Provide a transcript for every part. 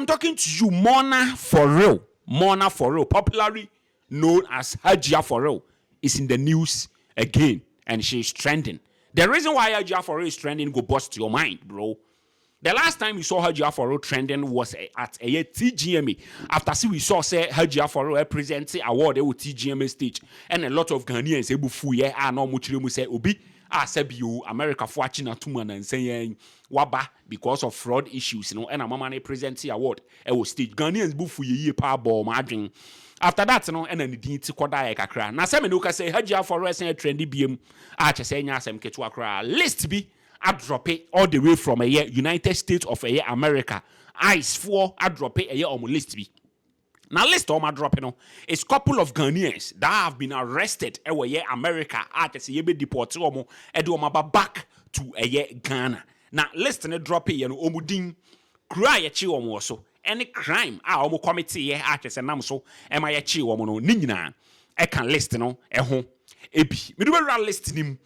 I'm talking to you Mona for real Mona for real popularly known as Hajia for real is in the news again and she is trending the reason why Hajia for real is trending go burst your mind bro the last time we saw Hajia for real trending was at ɛyɛ TGMA after see we saw sɛ Hajia for real present award ɛwɔ TGMA stage and a lot of Ghanaians ebu fu yɛ a na wɔn kyerɛ mu sɛ obi a sɛbi o America fo akyi na tum anansa yɛn waba Because of fraud issues no na mama no present award wɔ stage. Ghanaians bo fuiɛ yie paa bɔɔ mo adwene. After that no na ne din ti kɔdaeɛ kakra. Na sɛ me ne wo kasa yi Hajji Afua resan atrɛndi biam a kyɛ sɛ ɛnyɛ asɛm ketewa koraa. List bi adrɔpe all the way from ɛyɛ United States of ɛyɛ America. Ice foɔ adrɔpe ɛyɛ wɔn list bi. Na list a wɔadrɔpe no is couple of Ghanaians that have been arrested wɔ ɛyɛ America a kyerɛ sɛ yɛbɛdepɔɔte wɔn de wɔn aba back to ɛyɛ Ghana. Na list no drɔpeeɛ no wɔn din, kuro a yɛkyee wɔn wɔ so ne crime a wɔn kɔmeteeɛ a kyerɛ sɛ nam so ma yɛkyee wɔn no ne nyinaa ɛka list no ho bi. Medubawura list no mu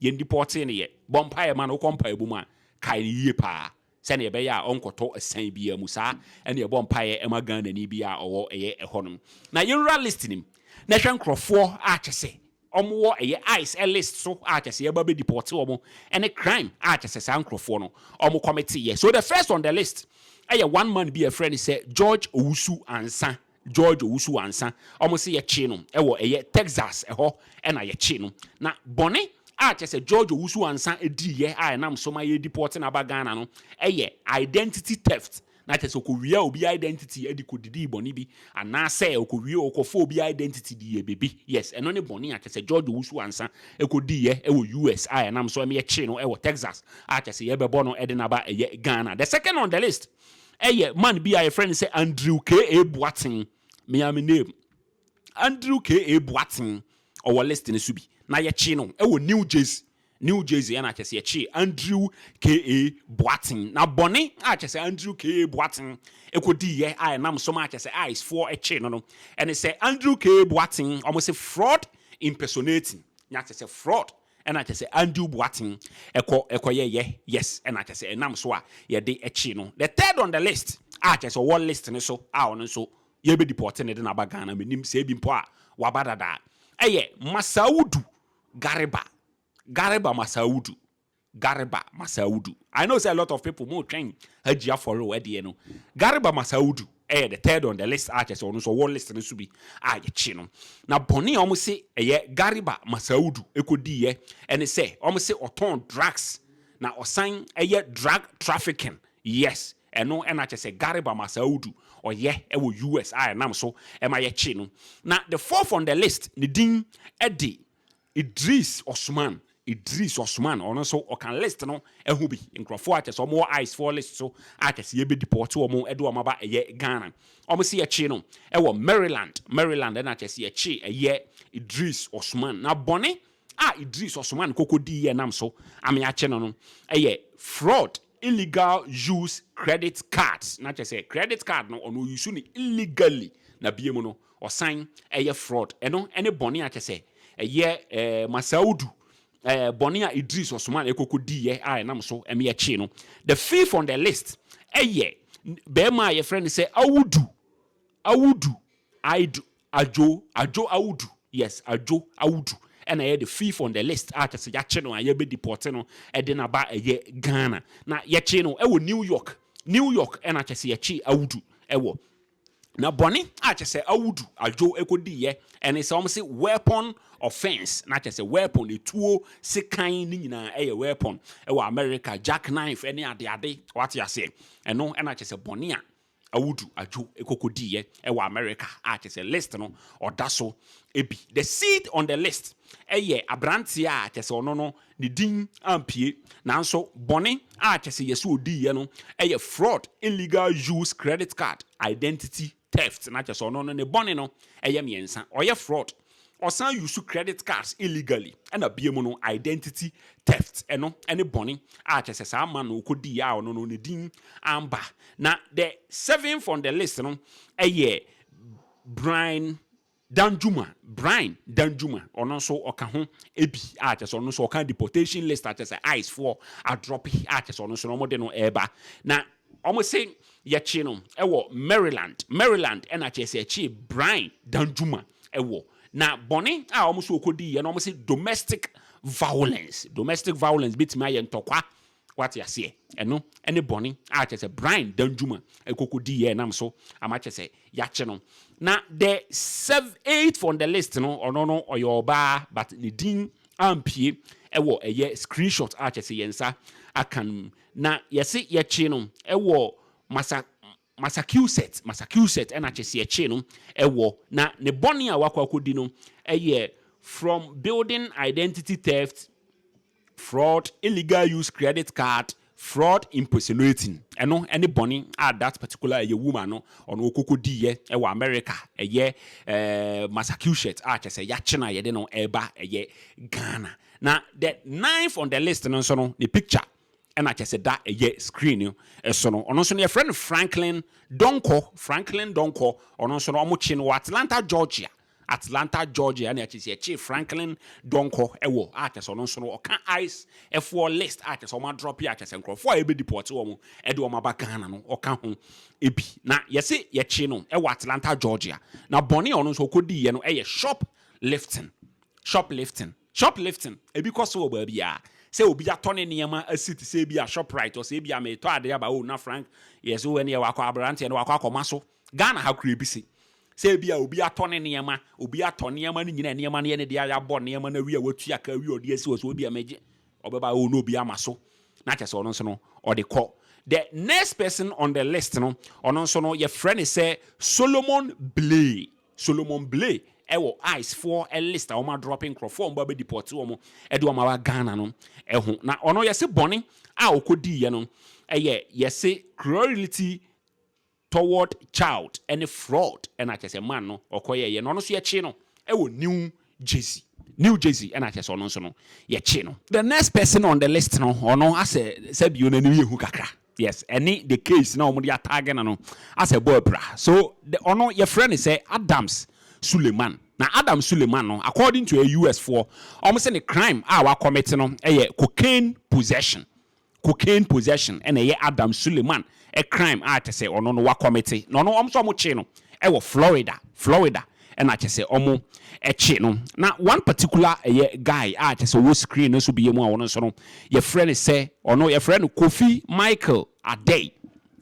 Yɛn dipɔɔtee no yɛ. Bɔ mpaeɛ ma no. Wokɔ mpaeɛbɔ mu a, kae no yie pa ara sɛdeɛ ɛbɛyɛ a ɔnkɔtɔ asiane biara mu. Saa na yɛbɔ mpaeɛ ma Ghanani biara a ɔwɔ ɛyɛ ɛhɔ nom. Na yɛnwura list no mu na hwɛ nkorɔfoɔ a kyɛ sɛ wɔwɔ ɛyɛ ice list so a kyɛ sɛ yɛbɛ abɛ dipɔɔte wɔn ɛne crime a kyɛ sɛ saa nkorɔfoɔ no wɔn kɔmete yɛ. So the first on the list ɛyɛ one man bi a yɛfrɛ no sɛ George Owusu Ansah George Owusu-Ansa, wɔn se yɛkyee no wɔ ɛyɛ Texas ɛhɔ na yɛkyee no. Na bɔne a kyerɛ sɛ George Owusu-Ansa diiyɛ a ɛnam so ma yɛredepɔɔte no aba Ghana no yɛ identity theft, na kyerɛ sɛ ɔkɔwiaa obi identity de kɔdidii bɔne bi, anaasɛ ɔkɔwie ɔkɔfaa obi identity diiɛ biribi. Yes, ɛno ne bɔne a kyerɛ sɛ George Owusu-Ansa kɔdiiyɛ wɔ US a ɛnam so ma yɛkyee no wɔ Texas a kyerɛ sɛ yɛrebɛbɔ no de no aba ɛyɛ Ghana. The second on the list. ɛyɛ man bi a yɛfrɛ no sɛ Andrew K. A. Boateng mea me name Andrew K. A. Boateng ɔwɔ list no so bi na yɛkye no ɛwɔ New Jersey New Jersey ɛna kyɛ sɛ yɛkye Andrew K. A. Boateng na bɔne a kyɛ sɛ Andrew K. A. Boateng ɛkɔdi yɛ a ɛnam so ma kyɛ sɛ ICE foɔ ɛkye no no ɛne sɛ Andrew K. A. Boateng wɔn se fraud impersonating nya kyɛ sɛ fraud Ɛna kyerɛ sɛ Andrew Boateng kɔ kɔ yɛ yɛ yes ɛna kyerɛ sɛ ɛnam so a yɛde kyee no the third on the list a kyerɛ sɛ ɔwɔ list no so a ɔno nso yɛbɛ deporte no de no aba Ghana menim sɛ ebi mpo a waba dada a ɛyɛ Masaawudu Gariba Gariba Masaawudu Gariba Masaawudu I know sɛ a lot of people mo retwɛn Hajji Afɔre o ɛdeɛ no Gariba Masaawudu yɛ the third on the list a kyerɛ sɛ ɔno nso ɔwɔ list no so bi a yɛkye no. Na bɔne a wɔn se ɛyɛ Gariba Masaudu kɔdiiɛ ne sɛ wɔn se ɔtɔn drugs na ɔsan yɛ drug trafficking. Yes, ɛno na kyerɛ sɛ Gariba Masaudu ɔyɛ wɔ US a ɛnam so ma yɛkye no. Na the fourth on the list ne din de Idris Osman Idris Osman ɔno nso ɔka list no ho bi, nkurɔfoɔ a kyerɛ sɛ wɔwɔ ice foɔ list so a kyerɛ sɛ yɛbɛdipɔɔte wɔn de wɔn aba ɛyɛ Ghana. Wɔn se yɛkye no wɔ Maryland, Maryland ɛna kyerɛ sɛ yɛkye ɛyɛ Idris Osman. Na bɔne a Idris Osman kɔkɔdiiɛ ɛnam so ama yɛakye no no yɛ fraud, illegal use credit cards, na kyerɛ sɛ credit card no ɔno ɔyusu no illegally na biom no Ɔsan yɛ fraud. Ɛno ne bɔne a kyɛ sɛ ɛyɛ Masaudu bɔne a Idris Osman ɛkɔkɔ diiɛ a ɛnam so ma yɛkyee no. The fifth on the list yɛ barima a yɛfrɛ no sɛ Audu, Audu Aidu, Adwo, Adwo Audu, yes, Adwo Audu na ɛyɛ the fifth on the list a kyɛ sɛ yɛakye no a yɛbɛ deport no de no aba ɛyɛ Ghana. Na yɛkyee no wɔ New York, New York na kyɛ sɛ yɛkyee Audu wɔ. Na bɔne a kyerɛ sɛ Audu Adjo kɔdiiɛ ne sɛ wɔse weapon offence, na kyerɛ sɛ weapon, etuo, sekan ne nyinaa ɛyɛ weapon wɔ America, jack knife ne adeade, wate aseɛ? Ɛno na kyerɛ sɛ bɔne a Audu Adjo kɔkɔdiiɛ wɔ America a kyerɛ sɛ list no ɔda so bi. The seed on the list yɛ aberanteɛ a kyerɛ sɛ ɔno no Ne din ampue. Nanso bɔne a kyerɛ sɛ yɛse odiiɛ no yɛ fraud, illegal use credit card, identity theft, na kyerɛ sɛ ɔno no ne bɔne no yɛ mmiɛnsa, ɔyɛ fraud, ɔsan use credit cards illegally, ɛna biom no identity theft, ɛno ne bɔne a kyerɛ sɛ saa man no ɔkɔdiiɛ a ɔno no ne din amba. Na the seventh on the list no yɛ Brian Danjuma, Brian Danjuma, ɔno nso ɔka ho bi a kyerɛ sɛ ɔno nso ɔka deportation list a kyerɛ sɛ ICE foɔ adrɔpe a kyerɛ sɛ ɔno nso na wɔde no ɛreba na wɔse yɛkye no wɔ Maryland, Maryland ɛna kyerɛ sɛ ɛkyee Brian Danjuma wɔ na bɔne a wɔn nso ɔkɔdiiɛ no wɔse domestic violence, domestic violence bɛtumi ayɛ ntɔkwa Wate aseɛ? Ɛno ne bɔne a kyerɛ sɛ Brian Danjuma kɔkɔdi yɛ nam so ama kyerɛ sɛ yɛakye no. Na the sev eighth on the list no, ɔno no ɔyɛ ɔbaa but ne din ampue wɔ ɛyɛ screenshot a kyerɛ sɛ yɛn nsa aka no mu. Na yɛse yɛkye no wɔ Masa Massachusetts, Massachusetts ɛna Kyesiekyee no wɔ, na ne bɔne a wakɔ akɔdi no yɛ From Building Identity Theft, Fraud, Illegal Use Credit Card, Fraud Impersonating. Ɛno ne bɔne a that particular ɛyɛ woman no ɔno ɔkɔkɔdiiɛ wɔ America ɛyɛ Massachusetts a kyɛsɛ yɛakye no a yɛde no ɛreba ɛyɛ Ghana. Na the ninth on the list no nso no ne picture na kyerɛ sɛ da ɛyɛ screen no so no, ɔno nso no yɛfrɛ no Franklin Donkor, Franklin Donkor, ɔno nso no wɔkye no wɔ Atlanta, Georgia, Atlanta, Georgia ɛna kyerɛ sɛ yɛkye Franklin Donkor wɔ a kyerɛ sɛ ɔno nso no ɔka ICE ɛfoɔ list a kyerɛ sɛ wɔn adrɔpe a kyerɛ sɛ nkurɔfoɔ a ɛbɛdi pɔɔte wɔn ɛde wɔn aba Ghana no ɔka ho ebi na yɛse yɛkye no wɔ Atlanta, Georgia na bɔne a ɔno nso ɔkɔdiiɛ no ɛyɛ shop lifting, shop lifting. Shoplifting, Ebi kɔ so wɔ baabiara, sɛ obi atɔ ne nneɛma asi te sɛ ebia Shoprite, ɔse ebia meretɔ ade aba o na Frank yɛ se o ɛneɛ wakɔ aberanteɛ no wakɔ akɔma so. Ghana ha koraa ebi se sɛ ebia obi atɔ ne nneɛma, obi atɔ nneɛma no nyinaa, nneɛma no yɛ ne dea, yɛabɔ nneɛma no awie a watua ka awie a ɔde asi hɔ sɛ ebia megye, ɔbɛba o na obi ama so na kyerɛ sɛ ɔno nso no ɔde kɔ. The next person on the list no, ɔno nso no yɛfrɛ no sɛ Solomon Blay. Solomon Blay wɔ ice foɔ list a wɔn adrɔpe nkorɔfoɔ a wɔn ba bɛ deport wɔn de wɔn aba Ghana no ho na ɔno yɛse bɔne a ɔkɔ diiɛ no yɛ yɛse cruelty toward child ne fraud ɛna kyɛsɛ man no ɔkɔ yɛyɛ na ɔno nso yɛkye no wɔ new Jersey, New Jersey ɛna kyerɛ sɛ ɔno nso no yɛkye no. The next person on the list no ɔno asɛ sɛ bio n'anim yɛ hu kakra yes ɛne the case na wɔn de atagge no no asɛ bɔ abira so the ɔno yɛfrɛ no sɛ Adams Suleman na Adams Suleman no according to US foɔ wɔn sɛ ne crime a wa commit no ɛyɛ cocaine possession. cocaine possession na ɛyɛ Adam Suleman crime a kyɛ sɛ ɔno no wakɔmete na ɔno wɔn nso wɔn kye no wɔ Florida Florida na kyɛ sɛ wɔn kye no na one particular ɛyɛ guy a kyɛ sɛ ɔwɔ screen no so bia mu a ɔno nso no yɛfrɛ no sɛ ɔno yɛfrɛ no Kofi Michael Adei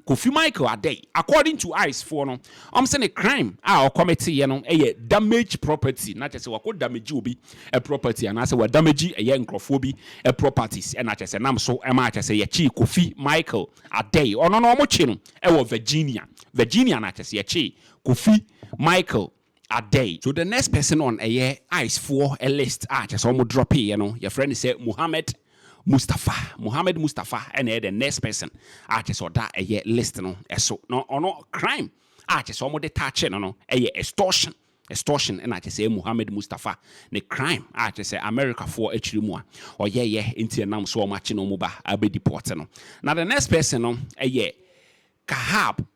Kofi Michael Adei, according to ice foɔ no, wɔn se ne crime a ɔkɔmeteeɛ no yɛ damage property, na kyerɛ sɛ wakɔ damage obi property anaa sɛ wa damage ɛyɛ nkorɔfoɔ bi properties ɛna kyerɛ sɛ nam so ma kyerɛ sɛ yɛkyee Kofi Michael Adei. Ɔno no wɔkye no wɔ Virginia, Virginia na kyerɛ sɛ yɛkyee Kofi Michael. adɛe. So the next person on ɛyɛ ice foɔ list a kyerɛ sɛ wɔn drop yɛ no yɛ frɛ no sɛ Mohammed Mustapha Mohammed Mustapha na ɛyɛ the next person a kyerɛ sɛ ɔda ɛyɛ list no so na ɔno crime a kyerɛ sɛ wɔn de touch no no ɛyɛ extortion extortion na kyerɛ sɛ Mohammed Mustapha ne crime a kyerɛ sɛ America foɔ akyiri mu a ɔyɛ yɛ nti ɛnam so wɔn akye no wɔn ba abɛ deport no na the next person no ɛyɛ Kahab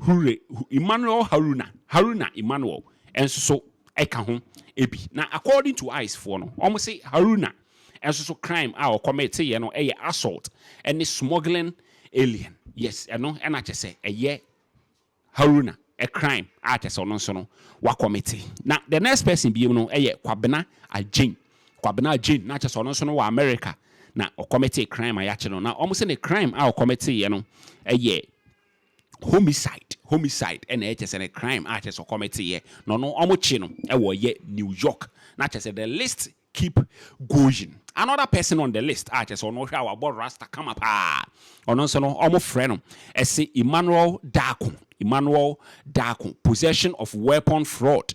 Hure, Emmanuel Haruna, Haruna Emmanuel, nso so ka ho bi. Na according to ice foɔ no, wɔn se Haruna nso so crime a ɔcommit yɛ no yɛ assault ne smuggling alien. Yes, ɛno na kyɛ sɛ ɛyɛ Haruna crime a kyɛ sɛ ɔno nso no wacommit. Na the next person bio no yɛ Kwabena Agyeng, Kwabena Agyeng, na kyɛ sɛ ɔno nso no wɔ America na ɔcommit crime a yɛakye no. Na wɔn se ne crime a ɔcommit yɛ no yɛ. Homicide, homicide ɛna ɛyɛ kyɛsɛ no crime a kyɛsɛ ɔkɔmɛ te yɛ na ɔno ɔmo kye no ɛwɔ ɔyɛ New York na kyɛsɛ the list keep going another person on the list a kyɛsɛ ɔno ɔhwɛ a wabɔ rasta kama paa ɔno nso no ɔmo frɛ no ɛse Emmanuel Darko Emmanuel Darko possession of weapon fraud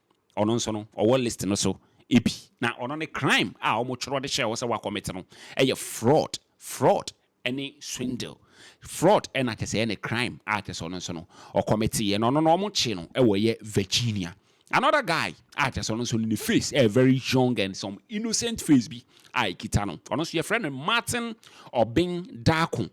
ɔno nso no ɔwɔ list no so bi na ɔno ne crime a ɔmo twerɛ de hyɛɛ hɔ sɛ wa commit no ɛyɛ fraud, fraud ɛne swindle, fraud ɛna kyɛ sɛ ɛyɛ ne crime a kyɛ sɛ ɔno nso no ɔ commit yɛ na ɔno no ɔmo kye no ɛwɔ ɛyɛ Virginia. Another guy a kyɛ sɛ ɔno nso no ne face ɛyɛ very young and some innocent face bi a ɛkita no ɔno nso yɛfrɛ no Martin Obeng Darko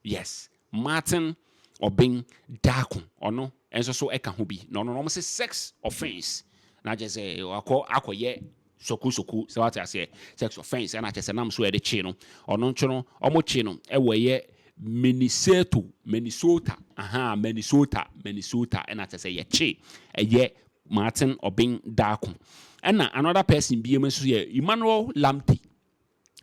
Yes, Martin Obeng Darko, ɔno nso so ka ho bi, na ɔno no wɔse sex offence na kyerɛ sɛ wakɔ akɔyɛ soku-soku, sɛ wate aseɛ, sex offence ɛna kyerɛ sɛ nam so ɛde kye no, ɔno nso no wɔkye no wɔ ɛyɛ Miniseto, Minnesota, ahaa, Minnesota, Minnesota ɛna kyerɛ sɛ yɛkye ɛyɛ Martin Obeng Darko. Ɛna another person binom nso yɛ Emmanuel Lamptey,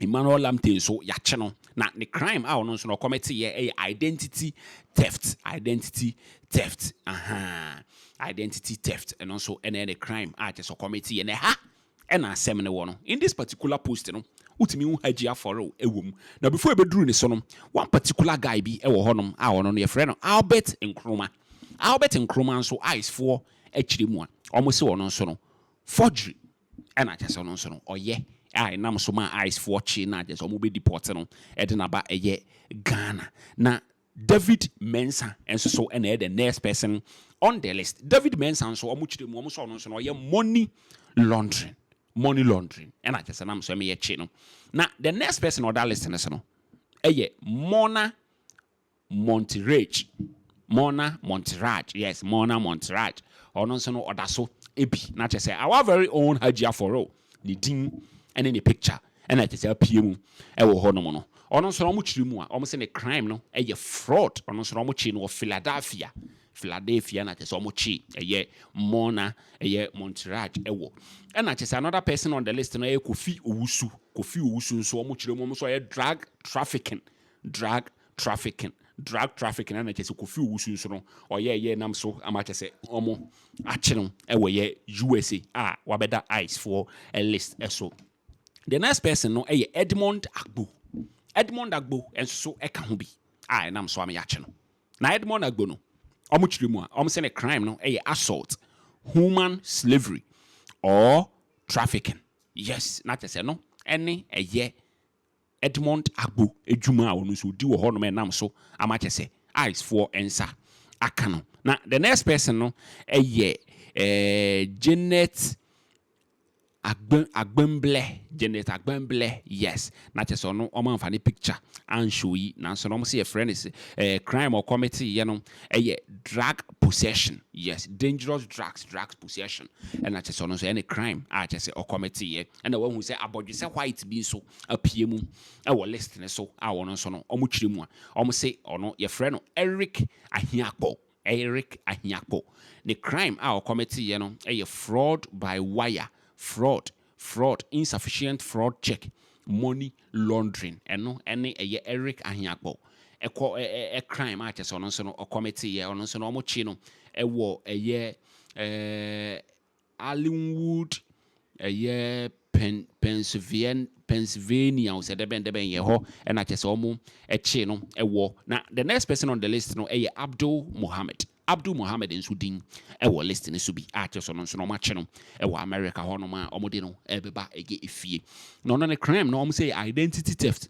Emmanuel Lamptey nso, yɛakye no. Na ne crime a ɔno nso no ɔkɔmɛteeɛ yɛ identity theft, identity theft, ahaa, identity theft, ɛno nso na ɛyɛ ne crime a kyerɛ sɛ ɔkɔmɛteeɛ. Na ɛha na asɛm no wɔ no. In this particular post no, wotumi hu Hajji Aforil wɔ mu. Na before ɛbɛduru ne so no, one particular guy bi wɔ hɔnom a ɔno no yɛfrɛ no Albert Nkrumah. Albert Nkrumah nso, ICE foɔ akyiri mu a, wɔse ɔno nso no, forgery, ɛna kyerɛ sɛ ɔno nso no ɔyɛ a ɛnam so maa ice foɔ kyee no a kyerɛ sɛ wɔn bɛ deport no ɛde no aba ɛyɛ Ghana na David Mensa nso so ɛna ɛyɛ the next person on the list David Mensa nso wɔn kyerɛ mu wɔn sɛ ɔno nso no ɔyɛ money laundering money laundering ɛna kyerɛ sɛ nam so ɛmɛ yɛ kye no na the next person on that list no so no ɛyɛ Mona Monterrey, Morna Montserrat, yes, Morna Montserrat, ɔno nso no ɔda so bi, na kyerɛ sɛ our very own Hajji Afɔrɔw, ne din ne ne picture na kyerɛ sɛ apue mu wɔ hɔnom no, ɔno nso no wɔkyere mu a, wɔse ne crime no yɛ fraud, ɔno nso no wɔkyee no wɔ Philadelphia, Philadelphia na kyerɛ sɛ wɔkyee ɛyɛ Morna ɛyɛ Montserrat wɔ. Ɛna kyerɛ sɛ another person on the list no yɛ Kofi Owusu, Kofi Owusu nso wɔkyere mu, wɔn nso wɔyɛ drug trafficking Drug trafficking drug trafficking ɛna kyɛ sɛ kofi owusu nso no ɔyɛ yɛ nam so ama akyɛ sɛ ɔmo akye no ɛwɔ yɛ usa a wabɛda ice foɔ list ɛso the next person no ɛyɛ edmond agbo edmond agbo ɛnso so ɛka ho bi a ɛnam so ama yɛakye no na edmond agbo no ɔmo kyerɛ mu a ɔmo sɛ ne crime no ɛyɛ assault human slavery or trafficking yes na kyɛ sɛ no ɛne ɛyɛ Edmond Agbo adwuma a ɔno nso ɔdi wɔ hɔnom ɛnam so ama kyɛ sɛ ice foɔ nsa aka no. Na the next person no yɛ Janet Agbe Agbemblɛ Janet Agbemblɛ yes na kyɛ sɛ ɔno wɔn amfa ne picture anshow yi nanso na wɔn sɛ yɛfrɛ no sɛ ɛɛ crime ɔkɔmete yɛ no ɛyɛ drug possession yes dangerous drugs drugs possession ɛna kyɛ sɛ ɔno nso ɛne crime a kyɛ sɛ ɔkɔmete yɛ. Ɛna wahu sɛ abɔdwesɛ white bi nso apue mu wɔ list no so a ɔno nso no wɔkyerɛ mu a wɔse ɔno yɛfrɛ no Eric Ahiakpo. Eric Ahiakpo, ne crime a ɔkɔmɛteeɛ no yɛ fraud by wire fraud, fraud, insufficient fraud check, money laundering. Ɛno ne ɛyɛ Eric Ahiakpo ɛkɔ ɛ crime a kyɛ sɛ ɔno nso no ɔkɔmɛteeɛ. Ɔno nso no wɔkye no wɔ ɛyɛ ɛɛ. Allenwood yɛ Pen Pennsylvan Pennsylvania o sɛ dɛbɛn dɛbɛn yɛ hɔ ɛna kyɛ sɛ ɔmo ɛkyee no ɛwɔ na the next person on the list no ɛyɛ Abdul Mohammed Abdul Mohammed nso din ɛwɔ list no so bi a kyɛ sɛ ɔno nso no ɔmo akye no ɛwɔ America hɔ nom a ɔmo de no ɛɛbɛba ɛyɛ efie na ɔno ne crime no ɔmo sɛ yɛ identity theft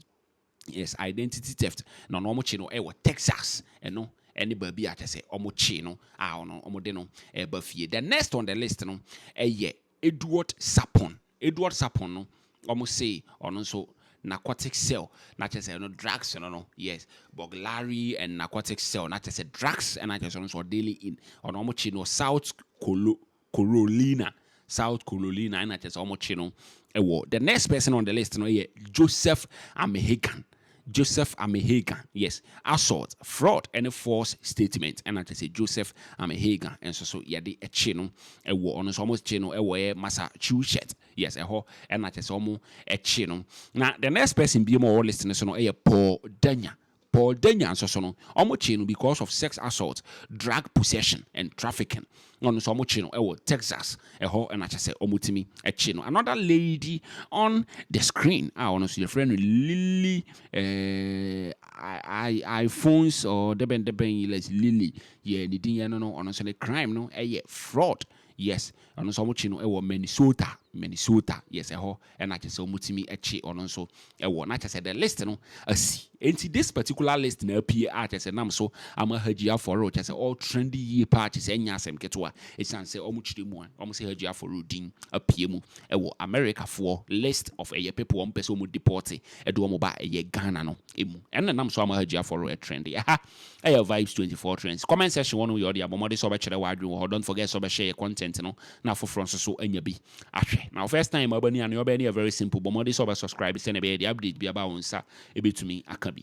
Yes, identity theft na ɔno wɔn kye no ɛwɔ Texas ɛno ɛne baabi a kyɛ sɛ wɔn kye no a ɔno wɔn de no ɛba fie. The next on the list no ɛyɛ Edward Sapon. Edward Sapon no wɔn se ɔno nso narcotic cell na kyɛ sɛ ɛno drugs no no yes burglary and narcotic cell na kyɛ sɛ drugs ɛna kyɛ sɛ ɔno nso ɔdealing in ɔno wɔn kye no South Kolo Carolina, South Carolina, ɛna kyerɛ sɛ wɔkye no wɔ the next person on the list no yɛ Joseph Amehegan. Joseph Amehegan, yes, assault, fraud ne false statement ɛna kyerɛ sɛ Joseph Amehegan nso so yɛde kye no wɔ ɔno nso wɔkye no wɔ yɛ Massachusetts, yes, ɛhɔ ɛna kyerɛ sɛ wɔkye no. Na the next person bi mu a ɔwɔ list no so no yɛ Paul Danya, Paul Danya nso so no, wɔkyee no because of sex assault, drug possession and trafficking. Na ɔno nso wɔkyee no wɔ Texas, ɛhɔ na kyerɛ sɛ wɔtumi kyee no. Another lady on the screen a ɔno nso yɛfrɛ no Lily eh, iPhones or dɛbɛn dɛbɛn yi, let's Lily yɛ ne din yɛ no no, ɔno nso ne crime no yɛ fraud. Yes, ɔno nso wɔkyee no wɔ Minnesota, Minnesota, yes ɛhɔ na kyerɛ sɛ wɔtumi kye ɔno nso wɔ na kyerɛ sɛ the list no asi nti this particular list na apue a kyerɛ sɛ nam so ama Hajji Afɔre kyerɛ sɛ ɔ trend yie paa kyerɛ sɛ ɛnyɛ asɛm ketewa ɛsiane sɛ wɔn kyerɛ mu a wɔn sɛ Hajji Afɔre din apue mu wɔ America foɔ list of ɛyɛ people wɔn pɛ sɛ wɔn deporte ɛde wɔn ba ɛyɛ Ghana no mu ɛno na nam so ama Hajji Afɔre ɛtrend ɛha ɛyɛ vibes 24 trends comment section wɔn yɛ ɔde abɔ mmɔde sɛ ɔbɛkyerɛ w'adwene wɔ hɔ don't forget sɛ ɔbɛhyɛ yɛ content no na afoforɔ nso so anya bi Ahwɛ na wo first time a wobɛni a nea wobɛyɛ no yɛ very simple, bɔ mmɔden sɛ wobɛ subscribe sɛnea ɛbɛyɛ deɛ update biara ba a wo nsa bɛtumi aka bi.